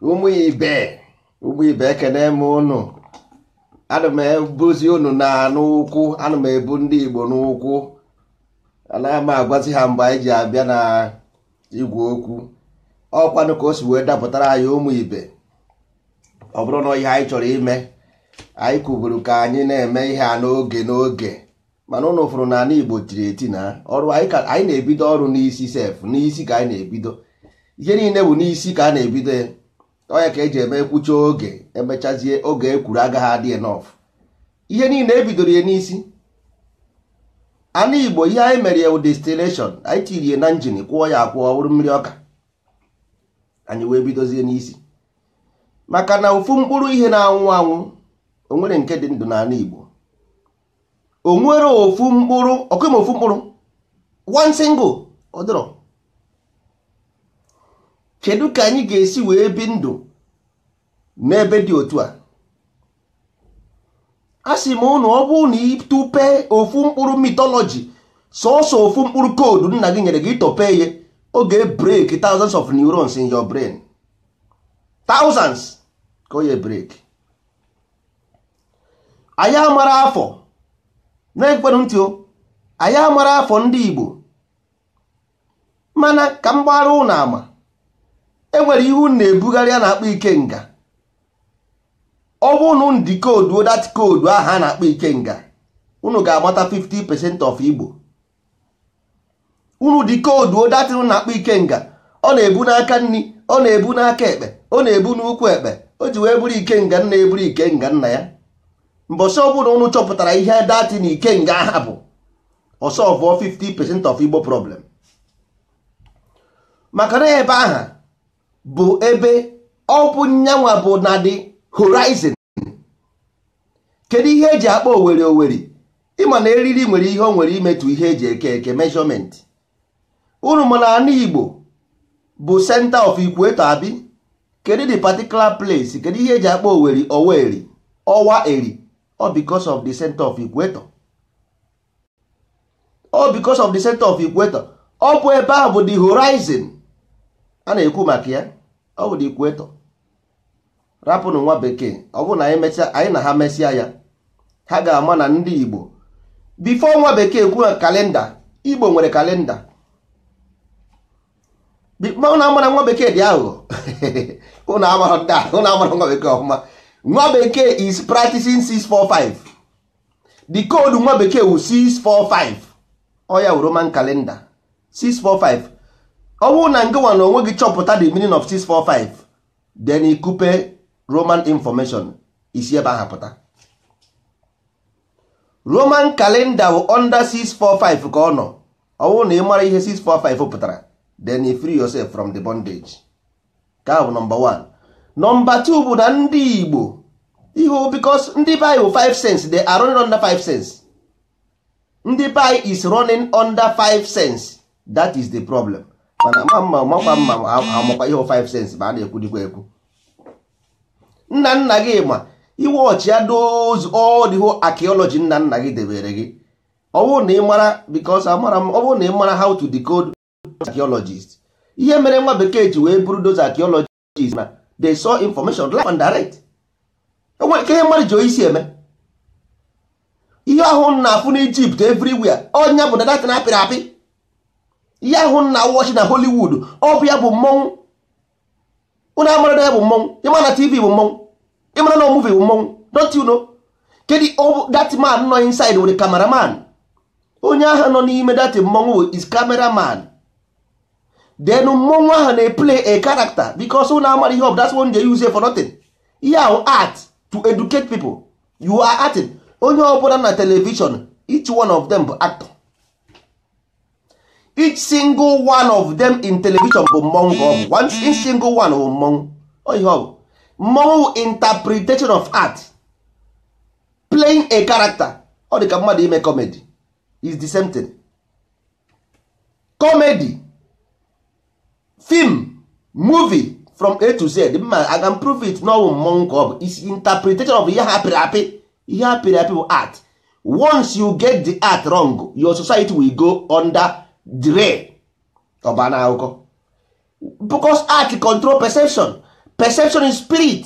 ụmụ ibe ụmụ ibe ekene m ụnụ ana m ebuzi ụnụ na n'ụkwụ ana m ebu ndị Igbo n'ụkwụ anaghị m agwazi ha mgbe anyị ji abịa na igwe okwu ọkwanụ ka o si wee dapụtara anyị ụmụ ibe ọ bụrụ na ihe anyị chọrọ ime anyị kwuburu ka anyị na-eme ihe a n'oge n'oge mana ụnụ fụrụ na ala igbo tiri eti na ọrụ anyị na-ebido ọrụ n'isi sef n'isi ka anyị na-ebido ihe niile bụ n'isi ka a na-ebido ya onye ka eji eme ekwucha oge emechazie oge ekwuru agaghị adị enough ihe niile ebidoro ya n'isi ana igbo ihe anyị mere ya distillation anyị tirie na njin kwọọ ya akwọ ọ wụrụ mmiri ọka anyị wee bidozie n'isi maka na ofu mkpụrụ ihe na-anwụ anwụ onwere nke dị ndụ n'ana igbo o nwere ofu mkpụrụ ọkwa ịma ofu mkpụrụ one single ọ dịrọ kedu ka anyị ga-esi wee bi ndụ n'ebe dị otu a a sị m ụnụ ọ bụrụ na ịtọpe ofu mkpụrụ mythology sọsọ ofu mkpụrụ code nna gị nyere gị ịtọpe ya ọ ga-ebreak thousands of neurons in your brain thousands ka ọ ya-ebreak anyị amarọ afọ na-egekwanụ ntị o anyị amarọ afọ ndị Igbo mana ka m gbaara ụnụ ama enwere ihe unu na-ebugharị a na-akpọ ikenga ọ bụ ụnụ decode-uo that code ahụ a na-akpọ ikenga unu ga-amata 50 percent of Igbo unu decode-uo that thing unu na-akpọ ikenga ọ na-ebu n'aka nri ọ na-ebu n'aka ekpe ọ na-ebu n'ụkwụ ekpe o ji wee bụrụ ikenga nna eburu ikenga nna ya mbọsị ọbụna ụnụ chọpụtara ihe that thing ikenga aha bụ ọ solve-ụọ 50 percent of igbo problem maka na ebe aha bụ ebe ọ bụ nyanwa bụ na the horizon kedu ihe eji akpọ oweri oweri ịma na eriri nwere ihe o nwere imetụ ihe eji eke eke measurement unu ma na ana igbo bụ center of equator abi kedu the particular place kedu ihe eji akpọ oweri oweri ọwa eri ọ because of the center of equator ọ because of the center of equator ọ bụ ebe ahụ bụ the horizon a na-ekwu maka ya ọ bụ the equator rapụnụ nwa bekee ọ bụrụ na anyị mechaa anyị na ha mesịa ya ha ga-ama na ndị igbo before nwa bekee kwuo kalenda igbo nwere kalenda ụnụ amara nwa bekee dị aghụghọ ụnụ amara ndị ahụ ụnụ amara nwa bekee ọfụma nwa bekee is practicing 645 the code nwa bekee wụ 645 ọ ya wụ roman calendar 645 ọ bụrụ na ngịwa na onwe gị chọpụta the meaning of 645 then ikupe roman information i si ebe ahụ pụta roman kalenda bụ under 645 ka ọ nọ ọ bụrụ na ị mara ihe 645 pụtara then you free yourself from the bondage nke a bụ nọmba 1 nọmba 2 bụ na ndị igbo ihu because ndị be anyị bụ 5 sense they are running under 5 sense ndị be anyị is running under 5 sense that is the problem mana ma mma makwa mma amakwa ihe 5 sense m na-ekwu dịkwa egwu nna nna gị ma ị watchịa those all the whole archaeology nna nna gị debere gị ọ bụrụ na ị mara because amara m ọ bụrụ na ị mara how to decode archaeologist ihe mere nwa bekee ji wee bulldoze archaeologist archaeologist na they saw information live and direct e nwere ike ihe mmadụ ji isi eme ihe ahụ na-afụ na Egypt everywhere ọ ya bụ na that thing a pịrị apị ihe ahụ na-awatch na Hollywood ọ bụ ya bụ mmọnwụ ụnụ amara na ya bụ mmọnwụ ị ma na TV bụ mmọnwụ ị mara na movie bụ mmọnwụ don't you know kedu that man nọ inside with the cameraman onye ahụ nọ n'ime that mmọnwụ is cameraman then mmọnwụ ahụ na-eplay a character because ụnụ amara ihe ọ bụ that's one they use for nothing ihe ahụ art to educate people you are acting onye ọbụla na television each one of them bụ actor each single one of them in television bụ mmọnwụ ka ọ bụ one each single one bụ mmọnwụ ọ ihe ọ bụ mmọnwụ interpretation of art playing a character ọ dị ka mmadụ ime comedy is the same thing comedy film movie from a to z mma i can prove it na ọ wụ mmọnwụ ka ọ bụ is interpretation of ihe ha pịrị apị ihe ha pịrị apị bụ art once you get the art wrong your society will go under the rail ọ baa na akụkọ because art control perception perception is spirit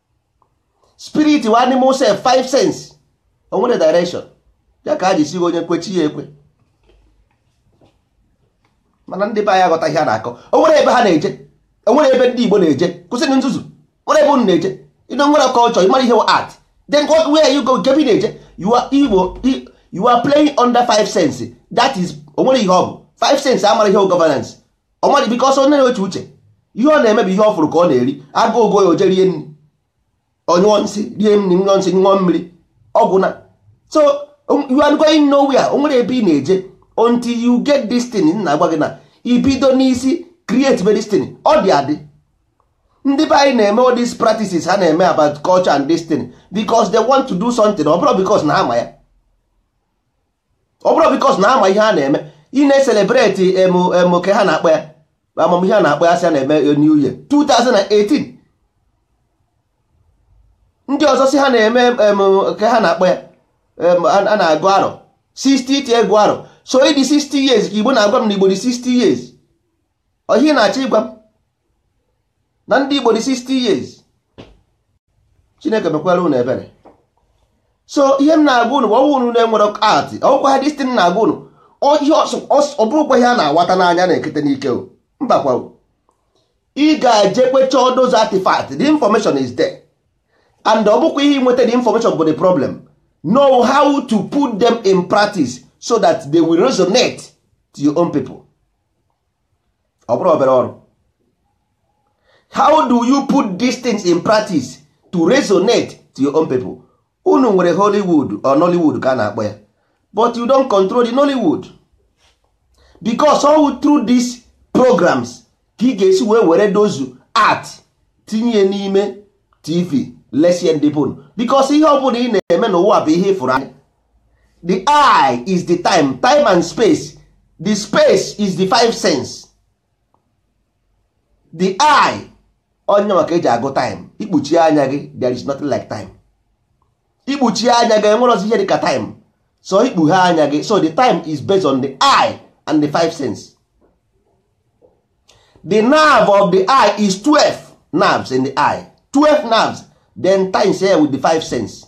spirit wụ animal self five sense o nwere direction ya ka a ji sị gị onye kwe chi ya ekwe mana ndị be anyị aghọta ihe a na-akọ o nwere ebe ha na-eje o nwere ebe ndị Igbo na-eje kwụsịnụ nzuzu nwere ebe unu na-eje unu nwere culture ị mara ihe art then what where you go kee ebe ị na-eje you are Igbo you are playing under five sense that is o nwere ihe ọ bụ five sense amara ihe governance ọmaji because ọ na-eche uche ihe ọ na-eme bụ ihe ọ fụrụ ka ọ na-eri agụụ gụọ ya o jee rie nri ọ nyụọ nsị rie nri nyụọ nsị ṅụọ mmiri ọ gwụna so you are going nowhere o nwerọ ebe ị na-eje until you get this thing m na-agwa gị na i bido n'isi create this thing ọ dị adị ndị be anyị na-eme all these practices ha na-eme about culture and this thing because they want to do something ọ bụrọ because na ha ma ya ọ bụrọ because na ha ma ihe ha na-eme ị na-ecelebrate em kee ha na-akpọ ya ama m ihe a na-akpọ ya sị a na-eme new year 2018 ndị ọzọ si ha na-eme kee ha na-akpọ ya a na-agụ arọ 60th ịgụ arọ so ị dị 60 years ka igbo na-agwa m na igbo dị 60 years ọ ihe ị na-achọ ịgwa m na ndị Igbo dị 60 years Chineke mekwara unu ebere so ihe m na-agwa unu once unu na-enwerọ art ọ gwụkwaa this thing m na-agwa unu ihe ọ bụrọkwa ihe a na-awata n'anya na-ekete n'ike o mbakwa ị ga-ejekwa chọọ those artifacts the information is there and ọ bụkwa ihe inweta the information bụ the problem know how to put them in practice so that they will resonate to your own people. ọ bụrọ obere ọrụ how do you put these things in practice to resonate to your own people unu nwere Hollywood or Nollywood ka a na-akpọ ya but you don't control the Nollywood because ọ bụ through these programs ka ị ga-esi wee were those art tinye n'ime tv lesie ndị be unu because ihe ọ bụla ị na-eme n'ụwa bụ ihe ị fụrụ anya the eye is the time time and space the space is the five sense the eye ọ ya ka e ji agụ time i kpuchie anya gị there is nothing like time i kpuchie anya gị e nwerọzi ihe dịka time so i kpughee anya gị so the time is based on the eye and the five sense the nerve of the eye is 12 nerves in the eye 12 nerves then timesie ya with the five sense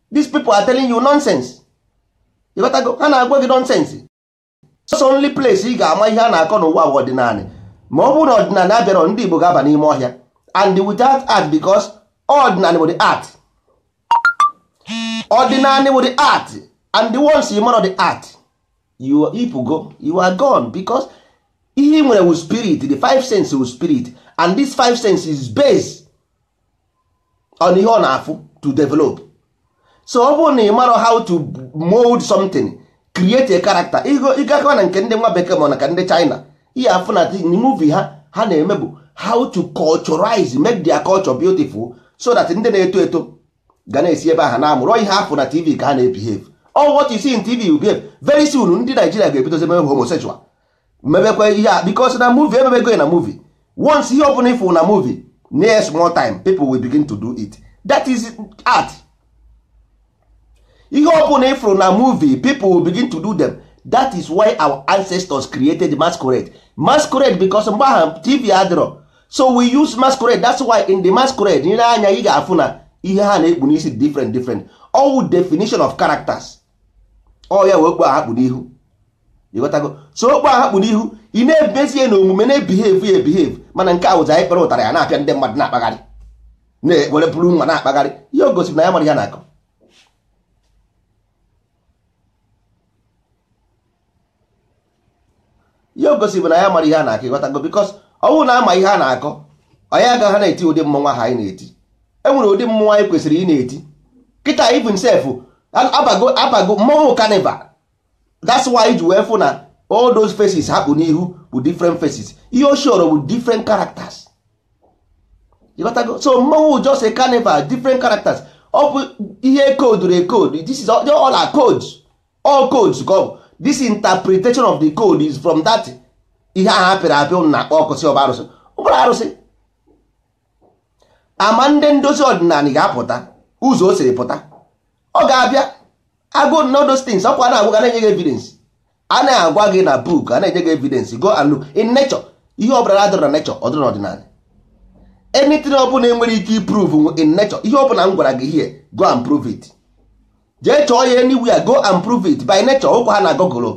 these people are telling you nonsense ị ghọtago ha na-agwa gị nonsense so only place ị ga-ama ihe a na-akọ n'ụwa bụ ọdịnala ma ọ bụrụ na ọdịnala abịarọ ndị Igbo ga-aba n'ime ọhịa and without art because ọdịnala bụ the art ọdịnala bụ the art and once ị marọ the art ị pụgo you are gone because ihe ị nwere wụ spirit the five senses wụ spirit and this five senses is based on ihe ọ na-afụ to develop so ọ bụrụ na ị marọ how to mold something create a character ị gakwaa na nke ndị nwa bekee ma na nke ndị China ihe afụ na movie ha ha na-eme bụ how to culturize make their culture beautiful so that ndị na-eto eto ga na-esi ebe ahụ na-amụrụ ihe ha fụ na tv ka ha na-ebehave all what you see in tv you behave very soon ndị Naijiria ga-ebidozi ime homosexual mebekwa ihe a because na movie emebego na movie once ihe ọbụla ị fụ na movie nye ya small time people will begin to do it that is art ihe ọbụla ị fụrụ na movie people will begin to do them that is why our ancestors created masquerade masquerade because mgbe ahụ tv adịrọ so we use masquerade that's why in the masquerade ị lee anya ị ga-afụ na ihe ha na-ekpu n'isi different different all definition of characters ọ ya wụ okpu a ha kpu n'ihu ịghọtago so okpu a ha kpu n'ihu ị na-emezi ya na omume na-ebihave ya ebihave mana nke wụzi anyị kpara ụtarị ya na-apịa ndị mmadụ na-akpagharị na-ewere bụrụ nwa na-akpagharị ihe o gosiri na ya amarọ ihe a na-akọ ihe gosi bụ na ya amarọ ihe a na-akọ ịghọtago because ọ wụ na a ma ihe a na-akọ anyị agaghị na-eti ụdị mmọnwụ ahụ anyị na-eti e nwere ụdị mmọnwụ anyị kwesịrị ị na-eti kịta even sef abago abago mmọnwụ carnival that's why i ji wee fụ na all those faces ha kpu n'ihu bụ different faces ihe o showru bụ different characters ịghọtago so mmọnwụ just a carnival different characters ọ bụ ihe e koduru ekod this is all our codes all codes ka ọ bụ this interpretation of the code is from that ihe ahụ a pịrị apị unu na-akpọ ọkụ sị ọ bụ arụsị ọ bụrọ arụsị ama ndị ndozi ọdịnala ga-apụta ụzọ o siri pụta ọ ga-abịa agụ nụ those things ọkwa na-agwa gị na-enye gị evidence a na-agwa gị na book a na-enye gị evidence go and look in nature ihe ọ bụla adịrọ na nature ọ dịrọ n'ọdịnala anything ọ bụla enwere ike iprove in nature ihe ọ bụla m gwara gị here go and prove it jee chọọ ya anywhere go and prove it by nature ọ wụkwaha na google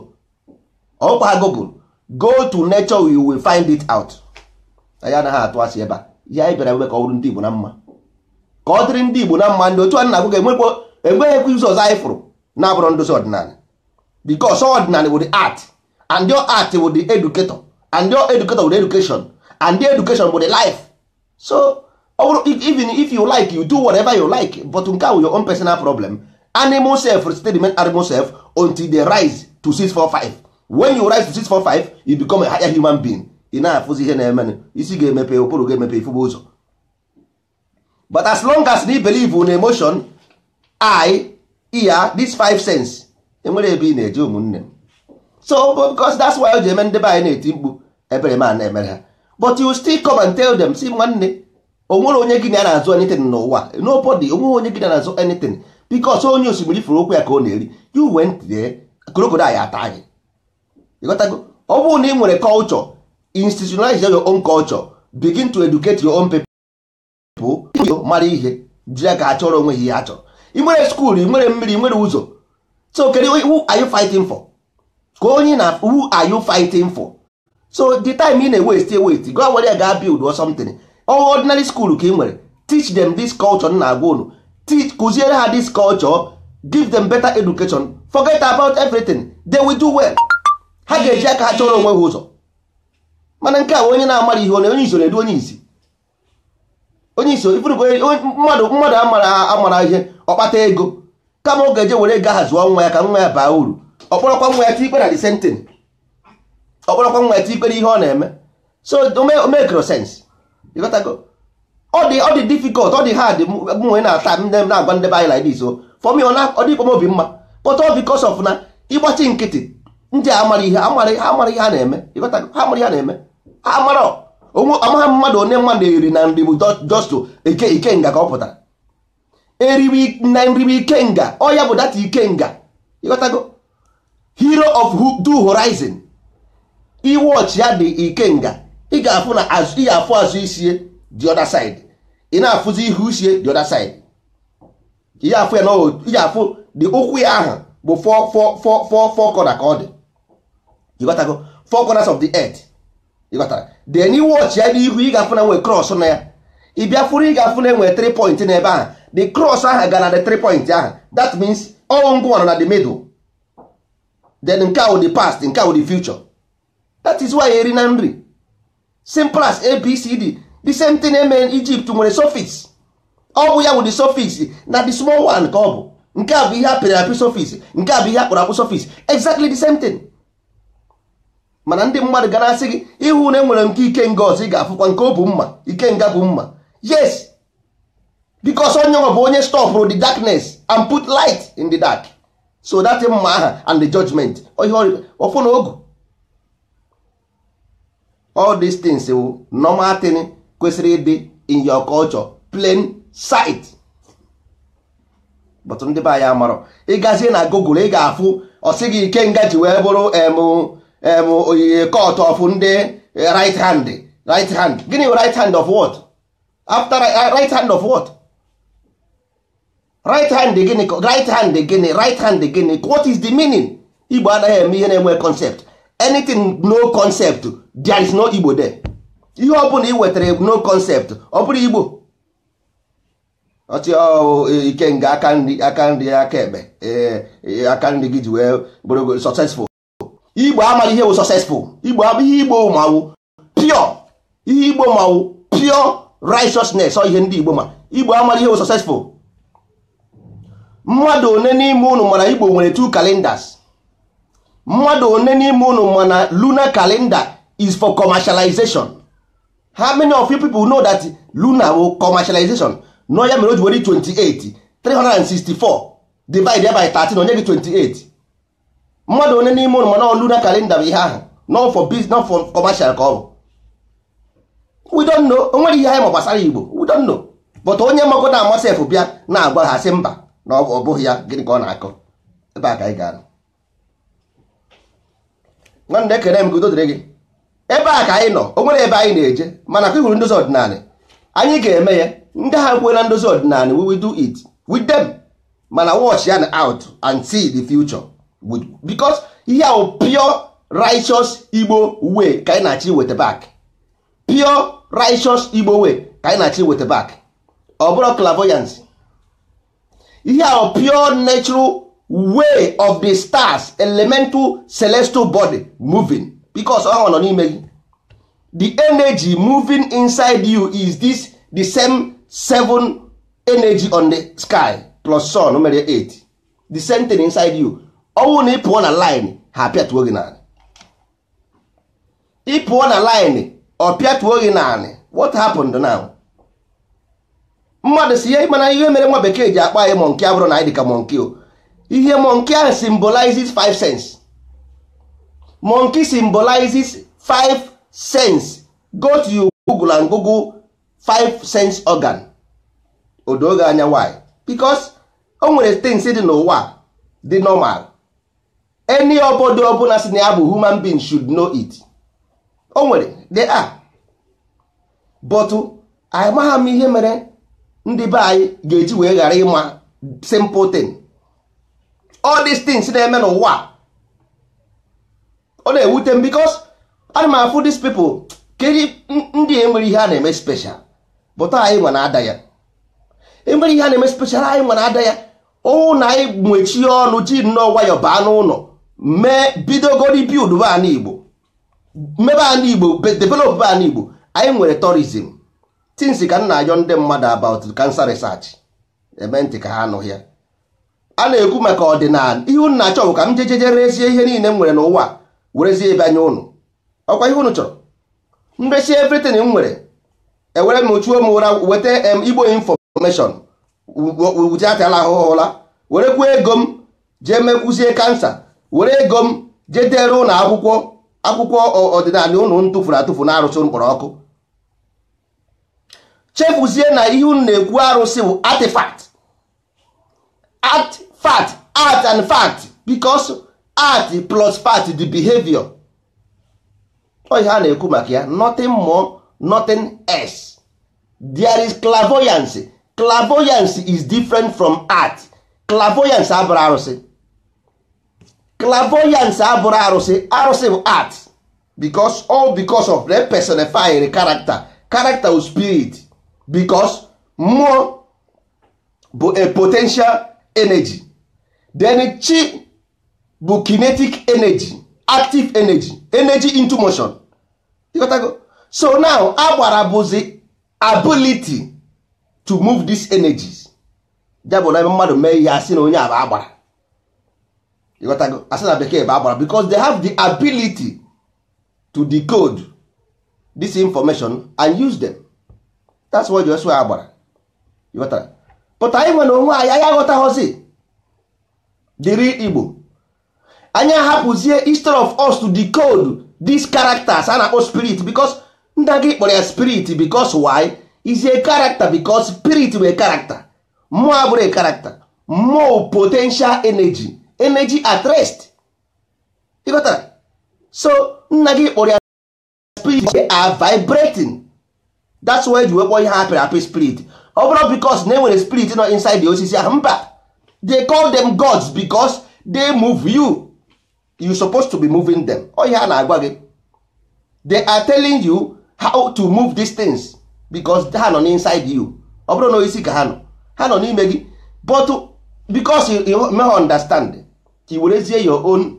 ọ wụkwaha google go to nature you will find it out anyị anaghị atụ asị ebe a ihe anyị bịara ebe ka ọ bụrụ ndị Igbo na mma ka ọ dịrị ndị Igbo na mma ndị otu a na-agwa gị enwekwa enweghịkwa ụzọ ọzọ anyị fụrụ na-abụrọ ndozi ọdịnala because ọdịnala bụ the art and your art bụ the educator and your educator bụ the education and the education bụ the life so ọ bụrụ even if you like you do whatever you like but nke a wụ your own personal problem animal self still remain animal self until they rise to 645 when you rise to 645 you become a higher human being ị na-afụzi ihe na-eme isi ga-emepe ụbụrụ ga-emepe ị fụbe ụzọ but as long as ị na-ebelieve in emotion eye ear this five sense enwerọ ebe ị na-eje ụmụnne m so because that's why o ji eme ndị be anyị na-eti mkpu ebere m na-emere ha but you still come and tell them sị nwanne o nwerọ onye gị na ya na-azọ anything n'ụwa nobody o nwerọ onye gị na ya na-azọ anything because onye osimiri fụrụ ụkwụ ya ka ọ na-eri you went there crocodile ataa gị ịghọtago ọ bụrụ na ị nwere culture institutionalize your own culture begin to educate your own people bụ mara ihe ji ya ka a chọrọ onwe ihe a chọrọ ị nwere school ị nwere mmiri ị nwere ụzọ so kedu who are you fighting for ka onye na who are you fighting for so the time ị na-ewaste ewaste go were ya gaa build or something ordinary school ka ị nwere teach them this culture na-agwa unu teach kụziere ha this culture give them better education forget about everything they will do well ha ga-eji aka ha chọrọ onwe ha ụzọ mana nke a onye na-amara ihe onye isi na-edu onye isi onye isi mmadụ mmadụ amara amara ihe ọ kpata ego kama ọ ga-eje were ego aha zụọ nwa ya ka nwa ya baa uru ọ kpọrọkwa nwa ya tikpe na the same thing ọ kpọrọkwa nwa ya tikpe ihe ọ na-eme so o makerọ sense ịghọtago ọ dị ọ dị difficult ọ dị hard mụnwa na-ata ndị m na-agwa ndị be anyị like this o for me ọ dịkwa m obi mma but ọ because of na ị gbachi nkịtị ndị amara ihe amara ihe ha na-eme ịghọtago ha amara ihe ha na-eme amara amaghị mmadụ onye mmadụ eri na nri bụ just ike ikenga ka ọ pụtara eriwe na nri bụ ikenga ọ ya bụ that ikenga ịghọtago hero of two horizon ị watch ya the ikenga ị ga-afụ na ị ga-afụ azụ isie the other side ị na-afụzi ihu isie the other side ị ga-afụ ya na ị ga-afụ the ụkwụ ya ahụ bụ four four four four four corner ka ọ dị ịghọtago four corners of the earth ịghọtara then ị watch ya n'ihu ị ga-afụ na e nwee cross na ya ị bịa fụrụ ị ga-afụ na e nwee 3 point n'ebe ahụ the cross ahụ gara na the 3 point ahụ that means ọ wụ ngwa nọ na the middle then nke ahụ the past nke ahụ the future that is why eri na nri simple as abcd the same thing em Egypt nwere sphinx ọ bụ ya wụ the sphinx na the small one ka ọ bụ nke a bụ ihe a pịrị apị sphinx nke a bụ ihe a kpụrụ akpụ sphinx exactly the same thing mana ndị mmadụ ga na-asị gị ị hụ na e nwere nke ikenga ọzọ ị ga-afụkwa nke o bu mma ikenga bu mma yes because ọ ya nwa bụ onye stopụrụ the darkness and put light in the dark so that mma aha and the judgment ọfọ na ogu all these things wụ normal thing kwesịrị ịdị in your culture plain sight but ndị be anyị amarọ ị gazie na google ị ga-afụ ọ sị gị ikenga ji wee bụrụ em oyiye cult of ndị right hand right hand gịnị right hand of what after right hand of what right hand gịnị right hand gịnị right hand gịnị what is the meaning igbo anaghị eme ihe na-enwe concept anything no concept there is no igbo there ihe ọ bụla ị wetara no concept ọ bụrọ igbo ọchị ikenga aka nri aka nri aka ekpe aka nri gị ji wee bụrụ successful igbo amaghị ihe bụ successful igbo ihe igbo ma wụ pure ihe igbo ma wụ pure righteousness ọ ihe ndị igbo ma igbo amaghị ihe bụ successful mmadụ one n'ime unu ma na igbo nwere two calendars mmadụ one n'ime unu ma na lunar calendar is for commercialization how many of you people know that lunar bụ commercialization no ya mere o ji were 28 364 divide by 13 o nye gị 28 mmadụ one n'ime unu ma na lunar calendar bụ ihe ahụ not for business not for commercial ka ọ bụ we don't know o nwere ihe anyị ma gbasara igbo we don't know but onye magodu ama sef bịa na-agwa ha sị mba na ọ bụghị ya gịnị ka ọ na-akọ ebe a ka anyị ga-anọ nwanne ekele m ka udo dịrị gị ebe a ka anyị nọ o nwere ebe anyị na-eje mana ka ị hụrụ ndozi ọdịnala anyị ga-eme ya ndị ha kwuo na ndozi ọdịnala we will do it with them mana watch ya out and see the future because ihe ahụ pure righteous igbo way ka anyị na-achọ iweta back pure righteous igbo way ka anyị na-achọ iweta back ọ bụrọ clairvoyance ihe a pure natural way of the stars elemental celestial body moving because ọ nọ n'ime gị the energy moving inside you is this the same seven energy on the sky plus sun mere 8 the same thing inside you ọ wụ na ị pụọ na line ha apịatuo gị n'ala ị pụọ na line ọ pịatuo gị n'anị what happened now mmadụ si ihe mana ihe mere nwa bekee ji akpọ anyị monkey abụrọ na anyị dịka monkey o ihe monkey ahụ symbolizes five sense monkey symbolizes five sense go to your google and google five sense organ o doo gị anya why because o nwere things dị n'ụwa dị normal any obodo ọbụla sị na ya bụ human being should know it o nwere they are but amaha m ihe mere ndị be anyị ga-eji wee ghara ịma simple thing all these things na-eme n'ụwa ọ na-ewute m because ana m afụ these people ka ndị enwerọ ihe ha na-eme special but anyị nwa na-ada ya enwerọ ihe ha na-eme special anyị nwa na-ada ya ọ wụ na anyị mechie ọnụ ji nnọọ nwayọ baa n'ụlọ mee bidogori buildbe ana igbo mebe ana igbo developbe ana igbo anyị nwere tourism since ka m na-ayọ ndị mmadụ about cancer research e mee ntị ka ha anụghị ya a na-ekwu maka ọdịnala ihe unu na-achọ bụ ka m jejeje rezie ihe niile m nwere n'ụwa werezie bịa nye unu ọkwa ihe unu chọrọ m resie everything m nwere ewere m ochuo m ụra weta em igbo information wụjatala ahụhụ ụla werekwuo ego m jee mekwuzie kansa were ego m jee dere unu akwụkwọ akwụkwọ ọ- ọdịnala unu tụfuru atụfu na arụsị mkpọrọ ọkụ chefuzie na ihe unu na-ekwu arụsị bụ artifact art fact art and fact because art plus fact the behavior ọ ihe a na-ekwu maka ya nothing more nothing else there is clairvoyance clairvoyance is different from art clairvoyance abụrụ arụsị clairvoyance abụrụ arụsị arụsị bụ art because all because of the personified character character of spirit because mmụọ bụ a potential energy then chi bụ kinetic energy active energy energy into motion ịghọtago so now agbara bụzi ability to move these energies ya bụ na mmadụ mee ihe a sị na onye a bụ agbara ịghọtago a sị na bekee bụ agbara because they have the ability to decode this information and use them that's why you agbara but anyị nwa n'onwe anyị anyị aghọtaghọzi the real igbo anyị ahapụzie instead of us to decode these characters a na-akpọ spirit because nna gị kpọrọ ya spirit because why is a character because spirit bụ a character mmụọ abụrụ a character mmụọ potential energy energy at rest ịghọtara so nna gị kpọrọ ya spirit they are vibrating that's why e ji wee kpọọ ihe apịrị apị spirit ọ bụrụ because na e nwere spirit nọ inside the osisi ahụ mba they call them gods because they move you you supposed to be moving them ọ ihe a na-agwa gị they are telling you how to move these things because ha nọ inside you ọ bụrụ na osisi ka ha nọ ha nọ n'ime gị but because you meghị understand ka i werezie your own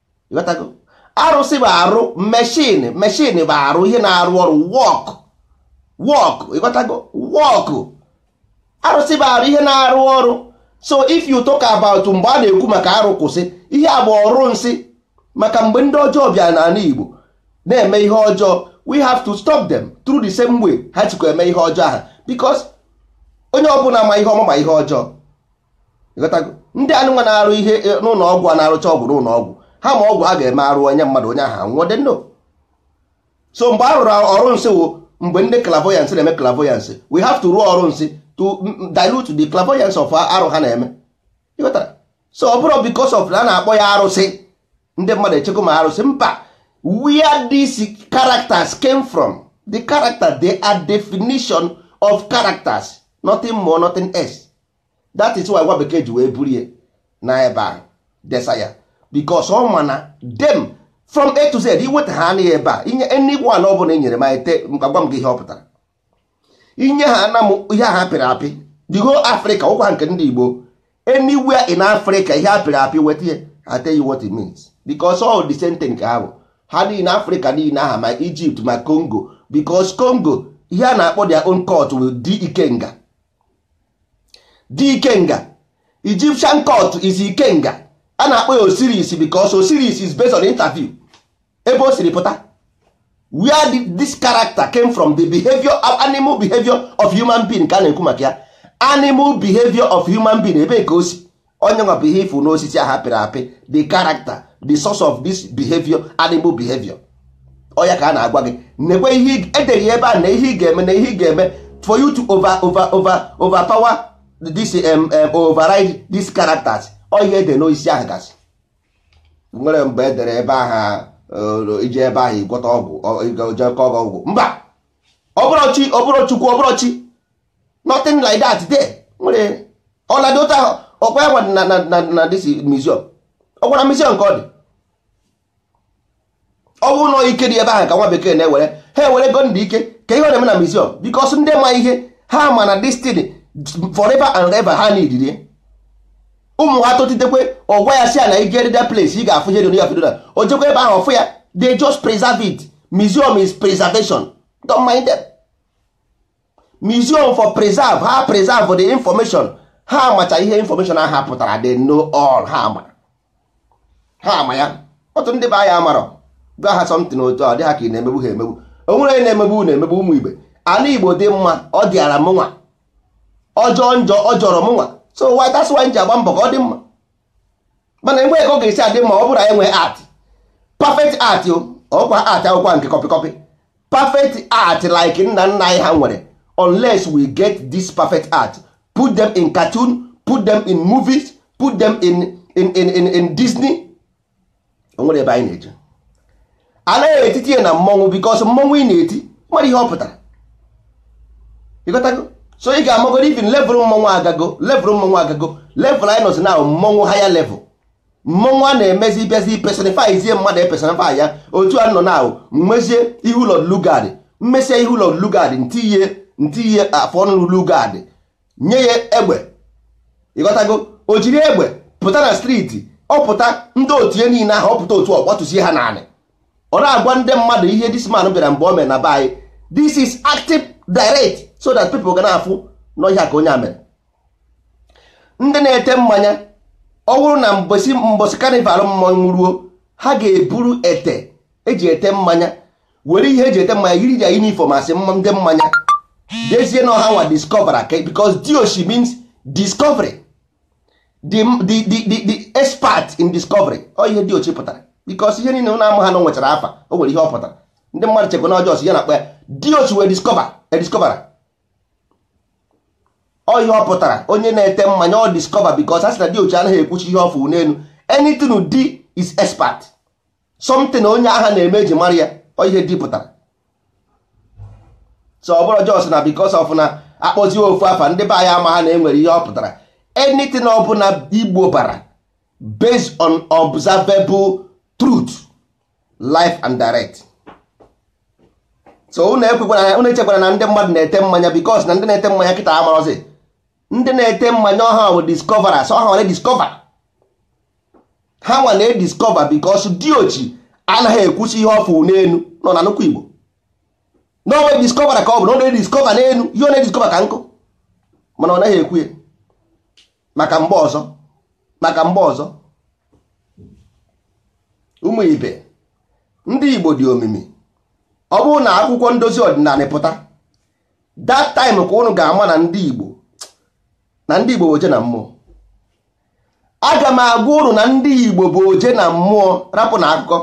ịghọtago arụsị bụ arụ machine machine bụ arụ ihe na-arụ ọrụ work work ịghọtago work arụsị bụ arụ ihe na-arụ ọrụ so if you talk about mgbe a na-ekwu maka arụ kwụsị ihe a bụ ọrụ nsị maka mgbe ndị ọjọọ bịa n'ala Igbo na-eme ihe ọjọọ we have to stop them through the same way ha sikwa eme ihe ọjọọ ahụ because onye ọbụla ma ihe ọma ma ihe ọjọọ ndị anụnwa na-arụ ihe e, n'ụlọ ọgwụ a na-arụcha ọgwụ n'ụlọ ọgwụ ha ma ọgwụ ha ga-eme arụ onye mmadụ onye ahụ anwụọ they know so mgbe a rụrụ ọrụ nsị wụ mgbe ndị clairvoyance na-eme clairvoyance we have to rụọ ọrụ nsị to dilute the clairvoyance of arụ ha na-eme so ọ bụrọ because of na a na-akpọ ya arụsị ndị mmadụ echekwa ma arụsị mba where these characters came from the character they are definition of characters nothing more nothing else that is why nwa bekee ji wee buru ya na ebe ahụ desa ya because ọ ma na them from a to z iweta ha anaghị ebe a inye anyone ọ bụla enyere m ete mkpagwa m gị ihe ọ pụtara inye ha ana m ihe ha pịrị apị the whole africa ọkwa nke ndị igbo anywhere in africa ihe a pịrị apị weta ya I tell you what it means because all the same thing ka ha bụ ha niile africa niile aha ma egypt ma congo because congo ihe a na-akpọ their own court wụ dikenga dikenga Egyptian court is ikenga a na-akpọ ya Osiris because Osiris is based on interview ebe o siri pụta where this character came from the behavior of animal behavior of human being ka a na-ekwu maka ya animal behavior of human being ebe ka o si onye nwa bụ ihe ị fụ n'osisi a ha pịrị apị the character the source of this behavior animal behavior ọ ya ka a na-agwa gị nekwe ihe edere ya ebe a na ihe ị ga-eme na ihe ị ga-eme for you to over over over over power this um, um, override these characters ọ ya e dere n'osisi ahụ gasị nwere mgbe edere ebe ahụ uh, ije ebe ahụ ịgwọta ọgwụ o jekọ ọgwụ mba ọ bụrọ chi ọ bụrọ chukwu ọ bụrọ chi nothing like that there nwere ọladị otu ahụ ọkwa ya na na na this museum ọkwa na museum ka ọ dị ọ bụrụ na ike dị ebe ahụ ka nwa bekee na-ewere ha ewerego ndị ike ka ihe ọ na-eme na museum because ndị ma ihe ha ma na this thing forever and ever ha needịrị ya ụmụ ha totitekwe ọ gwa ya sị ya na i jere that place ị ga-afụ ihe dị ya fido na o jekwa ebe ahụ ọ fụ ya they just preserve it museum is preservation don't mind them. museum for preserve ha preserve the information ha macha ihe information aha pụtara they know all ha ma ha ma ya otu ndị be anyị amarọ gwa ha something otu ọ dị ha ka ị na-emegbu ha emegbu o nwere onye na-emegbu na-emegbu ụmụ igbo ana igbo dị mma ọ dịara mụnwa ọ jọọ njọ ọ jọrọ mụnwa so why that's why m ji agba mbọ ka ọ dị mma mana enwe ka ọ ga-esi adị mma ọ bụrụ anyị nwee art perfect art o ọkwa art akwụkwọ nke copy copy perfect art like nna nna anyị ha nwere unless we get this perfect art put them in cartoon put them in movies put them in in in in, in disney o nwere ebe anyị na-eje anaghị etiti ya na mmọnwụ because mmọnwụ ị na-eti nwere ihe ọ pụtara ịghọtago so ị ga-amagoro even level mmọnwụ level mmọnwụ agago level anyị nọzi now mmọnwụ higher level mmọnwụ a na-emezi bịazi personifyzie mmadụ e personify ya otu a nọ now m mezie ihu lord lugard m mesịa ihu lord lugard ntinye ntinye afọ ọnụ lugard nye ya egbe ịghọtago o jiri egbe pụta na street ọ pụta ndị otu ya niile ahụ ọ pụta otu ọ gbatụsie ha n'anị ọ na-agwa ndị mmadụ ihe this man bịara mgbe o mere na be anyị this is active direct so that people ga na-afụ na ọ ihe a ka onye a mere ndị na-ete mmanya ọ bụrụ na mbọsị mbọsị carnival mmọnwụ ruo ha ga-eburu ete eji ete mmanya were ihe eji ete mmanya yiri ya uniform a sị ndị mmanya dezie na ọ ha nwa discover aka because diochi means discovery the, the, the, the, the expert in discovery ọ ihe diochi pụtara because ihe niile na-ama ha na nwechara afa o nwere ihe ọ pụtara ndị mmadụ chekwa na ọjọọ ya na-akpọ ya diochi wee discover e discover ọ ihe ọ pụtara onye na-ete mmanya ọ discoverer because a sị na diochi anaghị ekwucha ihe ọ fụ n'elu anything di is expert something onye ahụ na-eme eji mara ya ọ ihe di pụtara so ọ bụrụ just na because of na a kpọzie ofu afa ndị be anyị amaha na enwere ihe ọ pụtara anything ọ bụla igbo bara based on observable truth live and direct so unu echekwara na ndị mmadụ na-ete mmanya because na ndị na-ete mmanya kịta amarozi ndị na-ete mmanya ọ ha bụ discoverers ọ ha nwa na-ediscover ha nwa na-ediscover because diochi anaghị ekwusi ihe ọ fụ n'enu nọ na nnukwu igbo na ọ nwa discoverer ka ọ bụ na ọ na-ediscover n'enu ihe ọ na-ediscover ka nkụ mana ọ naghị ekwu ya maka mgbe ọzọ maka mgbe ọzọ ụmụ ibe ndị igbo dị omimi ọ bụrụ na akwụkwọ ndozi ọdịnanị pụta that time ka ụnụ ga-ama na ndị Igbo na ndị Igbo bụ oje na mmụọ aga m agwa ụnụ na ndị Igbo bụ oje na mmụọ rapụ na akụkọ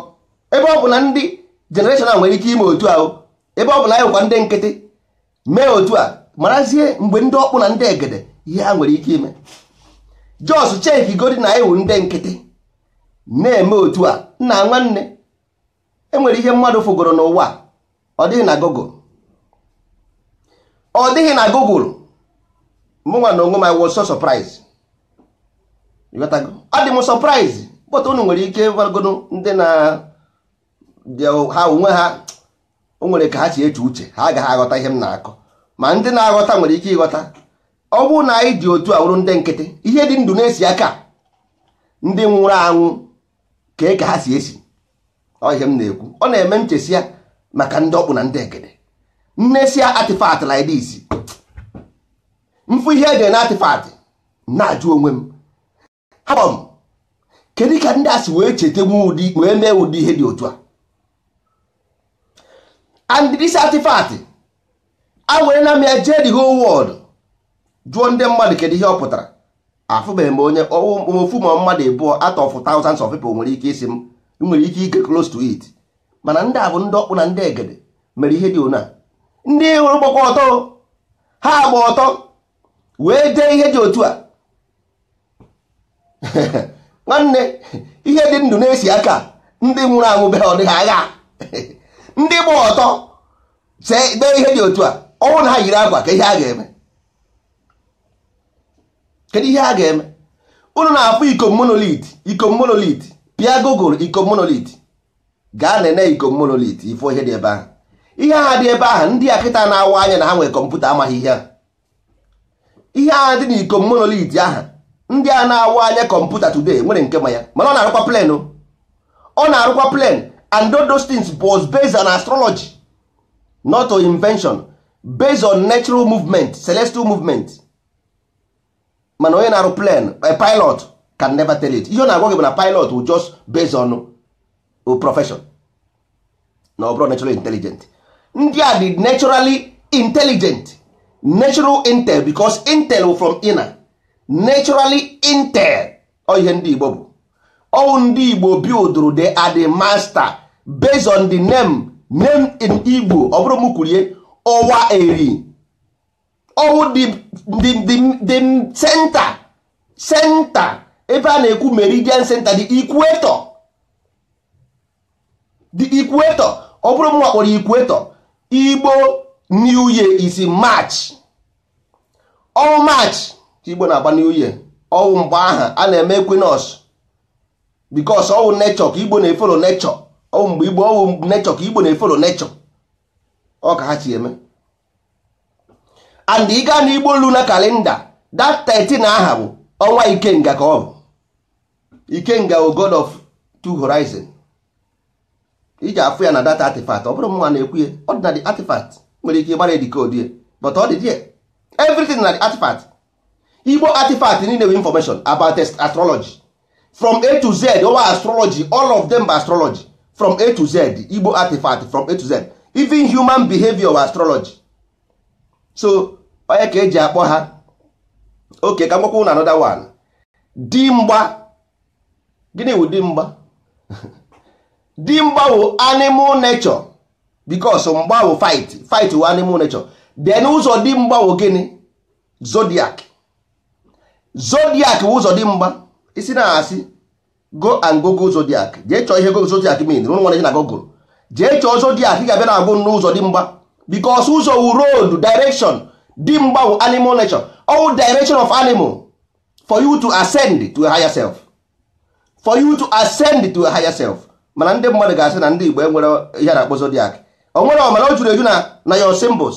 ebe ọ bụ na ndị generation a nwere ike ime otu ahụ ebe ọ bụ na anyị bụkwa ndị nkịtị mee otu a marazie mgbe ndị ọkpụ na ndị egede ihe ha nwere ike ime just checkigodi na anyị wụ ndị nkịtị na-eme otu a nna nwanne enwere ihe mmadụ fụgoro n'ụwa ọ dịghị na Google ọ dịghị na Google mụnwa na onwe m I was so surprised adị m surprise but unu nwere ike gwagodo ndị na ha onwe ha o nwere ka ha si eche uche ha agaghị aghọta ihe m na-akọ ma ndị na-aghọta nwere ike ịghọta ọ bụrụ na anyị dị otu a wụrụ ndị nkịtị ihe dị ndụ na-esi aka ndị nwụrụ anwụ ka ka ha si esi ọ ihe m na-ekwu ọ na-eme m chesịa maka ndị ọkpụ na ndị egede m nesịa artifact like this m fụ ihe e dere na artifact na-ajụ onwe m hapụ m kedu ka ndị a si wee cheta wee mee ụdị ihe dị otu a and this artifact ewerena m ya jee the whole world jụọ ndị mmadụ kedu ihe ọ pụtara afụbeghị m onye ofu ma ọ mmadụ abụọ out of thousands of people nwere ike ịsị m nwere ike iget close to it mana ndị a bụ ndị ọkpụ na ndị egede mere ihe dị ona ndị ị hụrụ gbakwa ọtọ ha gba ọtọ wee dee ihe dị otu a nwanne ihe dị ndụ na-esi aka ndị nwụrụ anwụ be ọ dịghị agha ndị gba ọtọ dee ihe dị otu a ọ wụ na ha yiri akwa ka ihe a ga-eme kedu ihe a ga-eme unu na-afụ Ikom monolith pịa Google Ikom monolith gaa nene Ikom monolith ị fụ ihe dị ebe aha ihe aha dị ebe aha ndị a kịta na-awa anya na ha nwere kọmputa amaghị ihe ihe a dị n'Ikom monolith aha ndị a na-awa anya kọmputa today nwere nke ma ya mana ọ na-arụkwa plane ọ na-arụkwa plane and those things was based on astrology not on invention based on natural movement celestial movement mana onye na-arụ plane a pilot can never tell it ihe ọ na-agwa gị bụ na pilot will just based on profession na ọ bụrụ naturally intelligent ndị a dị naturally intelligent natural intel because intel from inner naturally intel ọ ihe ndị Igbo bụ ọ wụ ndị Igbo buildụrụ they are the master based on the name name in Igbo ọ bụrụ m kwurie ọwa eri ọ wụ the center center ebe a na-ekwu meridian center the equator the equator ọ bụrụ mụnwa kpọrọ equator igbo new year is march ọ wụ march igbo na-agba new year ọ wụ mgbe aha a na-eme equinox because ọ wụ nature ka igbo na-efollow nature ọ wụ mgbe igbo ọ wụ nature ka igbo na-efollow nature ọ ka ha si eme and ị gaa n'igbo lunar calendar that 13 aha bụ ọnwa ikenga ka ọ bụ ikenga wụ god of two horizon iji afụ ya na that artifact ọ bụrọ mwa na-ekwu ya ọ dị na the artifact nwere ike ịgbara edecode ya but ọ dị there everything na the artifact igbo artifact niile wụ information about astrology from a to z ọ wụ astrology all of them bụ astrology from a to z igbo artifact from a to z even human behavior wụ astrology so ọ nya ka eji akpọ ha okay ka m gwakwa unu another one di mgba gịnị wụ di mgba di mgba wụ animal nature because mgba wụ fight fight wụ animal nature then ụzọ di mgba wụ gịnị zodiac zodiac wụ ụzọ di mgba ị sị na asị go and google zodiac jee chọọ ihe zodiac mean rụrụ nwere na google jee chọọ zodiac ị ga-abịa na-agụ n'ụzọ di mgba because ụzọ wụ road direction di mgba wụ animal nature all direction of animal for you to ascend to a higher self for you to ascend to a higher self mana ndị mmadụ ga-asị na ndị Igbo enwerọ ihe a na-akpọ zodiac o nwerọ mana o juru eju na na your symbols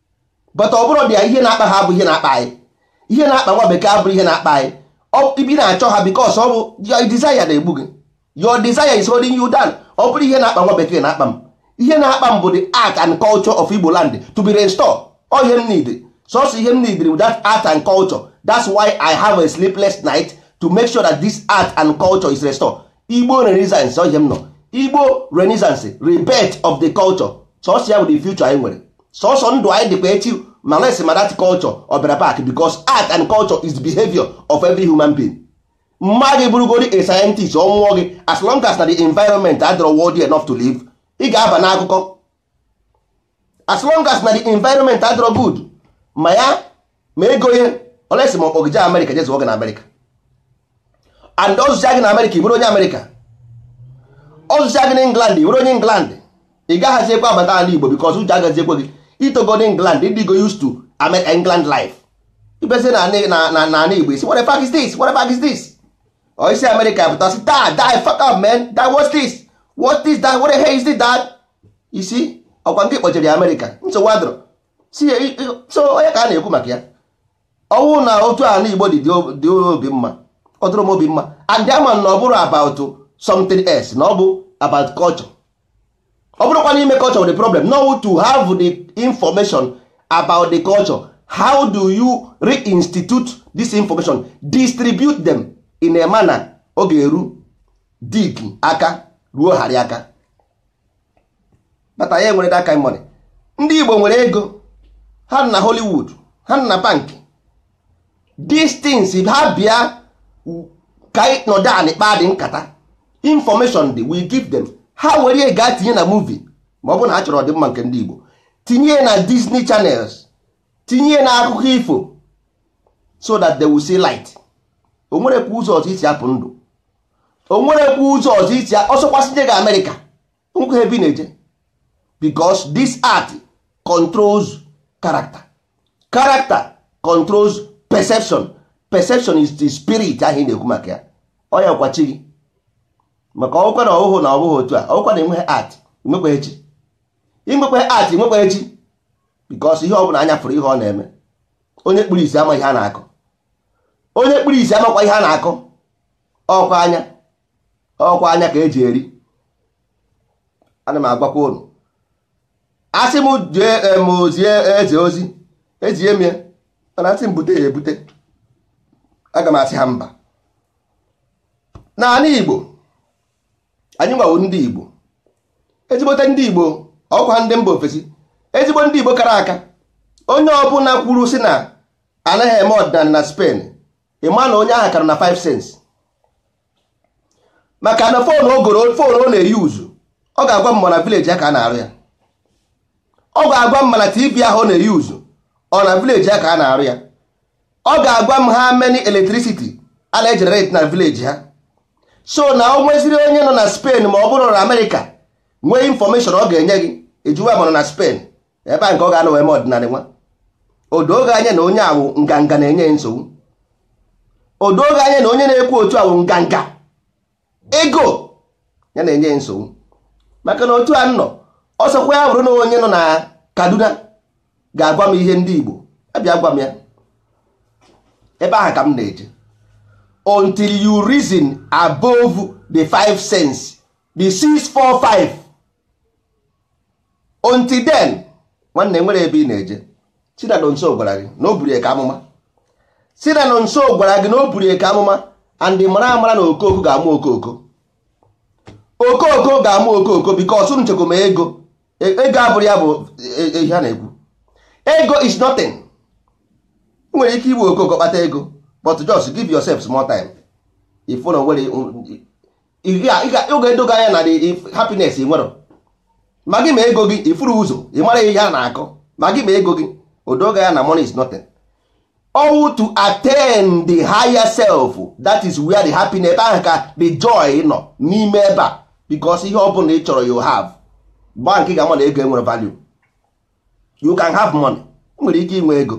but ọ bụrọdị ya ihe na-akpa ha bụ ihe na-akpa anyị ihe na-akpa nwa bekee abụrọ ihe na-akpa anyị ị bịa na-achọ ha because ọ bụ your desire na-egbu gị your desire is holding you down ọ bụrọ ihe na-akpa nwa bekee na-akpa m ihe na-akpa m bụ the art and culture of Igbo land to be restored ọ ihe m need sọsọ ihe m need wụ that art and culture that's why I have a sleepless night to make sure that this art and culture is restored Igbo renaissance ọ ihe m nọ Igbo renaissance rebirth of the culture sọsọ ya bụ the future anyị nwere sọsọ ndụ anyị dịkwa echi ma unless ma that culture ọ bịara back because art and culture is the behavior of every human being ma gị bụrụgodi a scientist onwe gị as long as na the environment adịrọ worthy enough to live ị ga-aba n'akụkọ as long as na the environment adịrọ good ma ya ma ego ihe unless ma ọ kpọ gị jee america jee zụọ gị na america and ọ zụcha gị na america ị bụrụ onye america ọ zụcha gị na england ị bụrụ onye england ị gaghazi ekwe abata ala igbo because uche agazi ekwe gị i togo na england ị dịgo used to Amer- england life ị bịazi na na- na- na- na ala igbo ị sị what the fuck is this what the fuck is this or i si america pụta sị shut the fuck up man that what's this what is that what the hell is this that you see ọkwa nke kpọchiri america nsogbu adọrọ so ọ nya ka a na-ekwu maka ya ọ wụ na otu ala Igbo dị dị obi mma ọ dịrọ m obi mma and a ma na ọ bụrọ about something else na ọ bụ about culture ọ bụrọkwa n'ime culture wụ the problem na ọ wụ to have the information about the culture how do you reinstitute this information distribute them in a manner ọ ga-eru Dick aka ruo Harry aka but anyị enwere that kind money ndị Igbo nwere ego ha nọ na Hollywood ha nọ na bank these things ha bịa ka anyị nọdụ anị kpaadị nkata information dị we give them ha were ya gaa tinye na movie ma ọ bụ na ha chọrọ ọdịmma nke ndị Igbo tinye na Disney channels tinye na akụkọ ifo so that they will see light o nwerekwa ụzọ ọzọ e si apụ ndụ o nwerekwa ụzọ ọzọ i si ọ sọkwa sị jee gaa America o nwekwaghị ebe ị na-eje because this art controls character character controls perception perception is the spirit ahụ ị na-ekwu maka ya ọ yakwa chi gị maka ọ wụkwa na ọhụhụ na ọbụghị otu a ọ wụkwa na i nweghị art i nwekwaghị chi i nwekwaghị art i nwekwaghị chi because ihe ọ bụla anya fụrụ ihe ọ na-eme onye kpuru isi ama ihe a na-akọ onye kpuru isi amakwa ihe a na-akọ ọkwa anya ọkwa anya ka eji eri ana m agwakwa unu a sị m jee zie eze ozi ezie m ya mana a sị m bute ya ebute aga m asị ha mba n'ala igbo anyị nwa wụ ndị igbo ezigbote ndị igbo ọkwa ndị mba ofesi ezigbo ndị igbo kara aka onye ọbụla kwuru sị na anaghị eme ọdịnala na Spain ị ma na onye ahụ kara na 5 sense maka na phone o goro phone ọ na-euse ọ ga-agwa m ma ọ na village ya ka a na-arụ ya ọ ga-agwa m ma na tv ahụ ọ na-euse ọ na village ya ka a na-arụ ya ọ ga-agwa m how many electricity a na-egenerate na village ha so na o nweziri onye nọ na Spain ma ọ bụrụ na America nwee information ọ ga-enye gị ị jụwa ma ọ nọ na Spain ebe a nke ọ ga-anọ wee mee ọdịnala nwa o doo gị anya na onye a wụ nganga na-enye ya nsogbu o doo gị anya na onye na-ekwu otu a wụ nganga ego ya na-enye ya nsogbu maka na otu a nọ ọ sọkwa ya bụrụ na onye nọ na Kaduna ga-agwa m ihe ndị Igbo abịa gwa m ya ebe ahụ ka m na-eje until you reason above the five sense the six four five until then nwanne nwere ebe ị na-eje sị na Nonso gwara gị na o buru eke amụma sị na Nonso gwara gị na o buru eke amụma and mara amara na ọkụkọ ga-amụ ọkụkọ ọkụkọ ga-amụ ọkụkọ because unu chekwa ma ego E- ego abụrụ ya bụ e- e- ihe a na-ekwu ego is nothing ị nwere ike igbu ọkụkọ kpata ego but just give yourself small time if you know where ọ ga-edo gị anya na the happiness i nwere ma gị ma ego gị ị fụrụ ụzọ ị mara ihe a na-akọ ma gị ma ego gị o doo gị anya na money is nothing ọ wụ to attain the higher self that is where the happiness ebe ahụ ka the joy nọ n'ime ebe a because ihe ọ bụla ị chọrọ you have mgbe ahụ ka ị ga-ama na ego enwerọ value you can have money ị nwere ike inwe ego